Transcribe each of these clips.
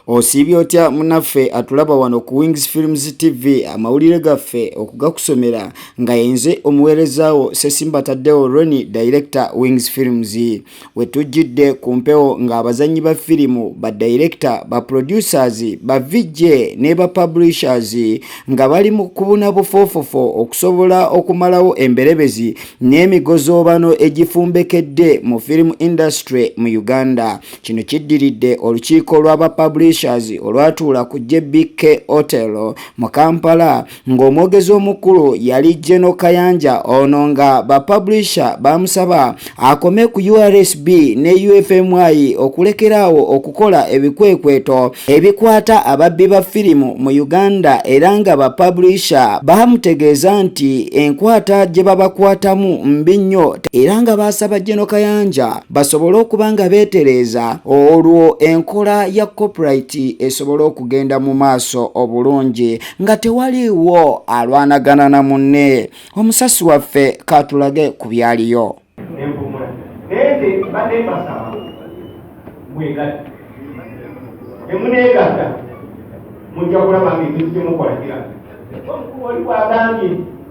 Osiibye otya munaffe atulaba wano ku Wings Films TV amawulire gaffe okugakusomera nga yenze omuweerezaawo Sesimba Tadeo Roni Director Wings Films we tujjidde ku mpewo ng'abazannyi ba firimu ba director ba producers ba VJ ne ba publishers nga bali mu kubuna bufoofofo okusobola okumalawo emberebezi n'emigozoobano egifumbekedde mu firimu industry mu Uganda Kino kiddiridde olukiiko lw'aba publishers olwatuula ku JBK Hotel mu Kampala ng'omwogezi omukulu yali Geno Kayanja ono nga ba publisher baamusaba akome ku URSB ne UFMI okulekeraawo okukola ebikwekweto ebikwata ababbi ba firimu mu Uganda era nga ba publisher baamutegeeza nti enkwata gye babakwatamu mbi nnyo era nga baasaba Geno Kayanja basobole okuba nga beetereeza olwo enkola ya copyright esobole okugenda mu maaso obulungi nga tewaliiwo alwanagana na munne omusasi waffe katulage ku byaliyo mujja kulaba nga ekintu kyemukola kiraga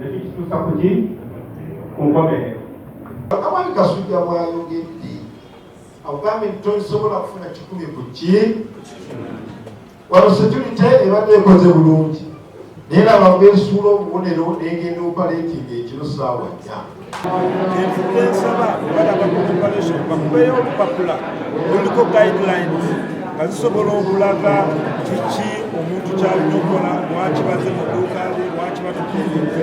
nekitutuusa kuki ku nkomerero Kamani Kasujja bwayogedde akugambye nti tosobola kufuna kikumi ku ki wano security ebadde ekoze bulungi naye nabagwesuula obubonero negenda opaleetinga ekiro saawa nnya Enfudde nsaba balaba ku preparation bakubeeyo olupapula luliko guidelines nga zisobola okulaga kiki omuntu kyalina okukola lwaki baze mu dduuka lye lwaki batuka ebintu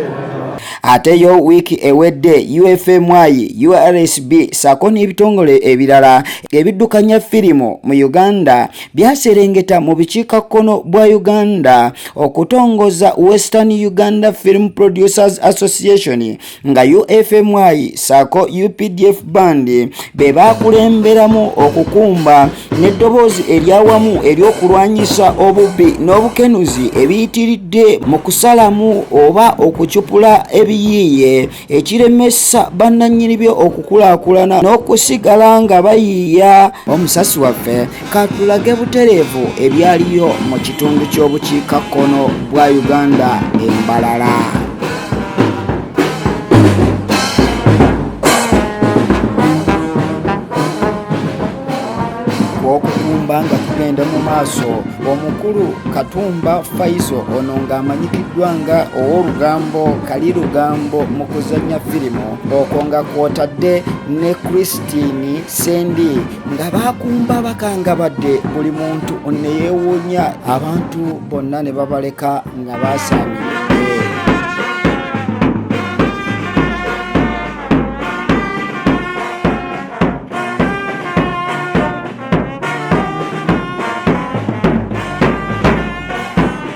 ate yo wiiki ewedde ufmy ursb saako n'ebitongole ebirala ebiddukanya firimu mu uganda byaserengeta mu bukiikakkono bwa uganda okutongoza western uganda film producers association nga UFMI saako UPDF band be baakulemberamu okukumba n'eddoboozi eryawamu ery'okulwanyisa obubbi n'obukenuzi ebiyitiridde mu kusalamu oba okucupula ebiyiiye ekiremesa bannannyini byo okukulaakulana n'okusigala nga bayiiya omusasi waffe Katulage butereevu ebyaliyo mu kitundu ky'obukiikakkono bwa Uganda e Mbarara. okukumba nga tugenda mu maaso omukulu katumba faiso ono ng'amanyikiddwa nga ow'olugambo kali lugambo mu kuzannya firimu okwo nga kwotadde ne christine sendi nga bakumba bakangabadde buli muntu neyewuunya abantu bonna ne babaleka nga basaamye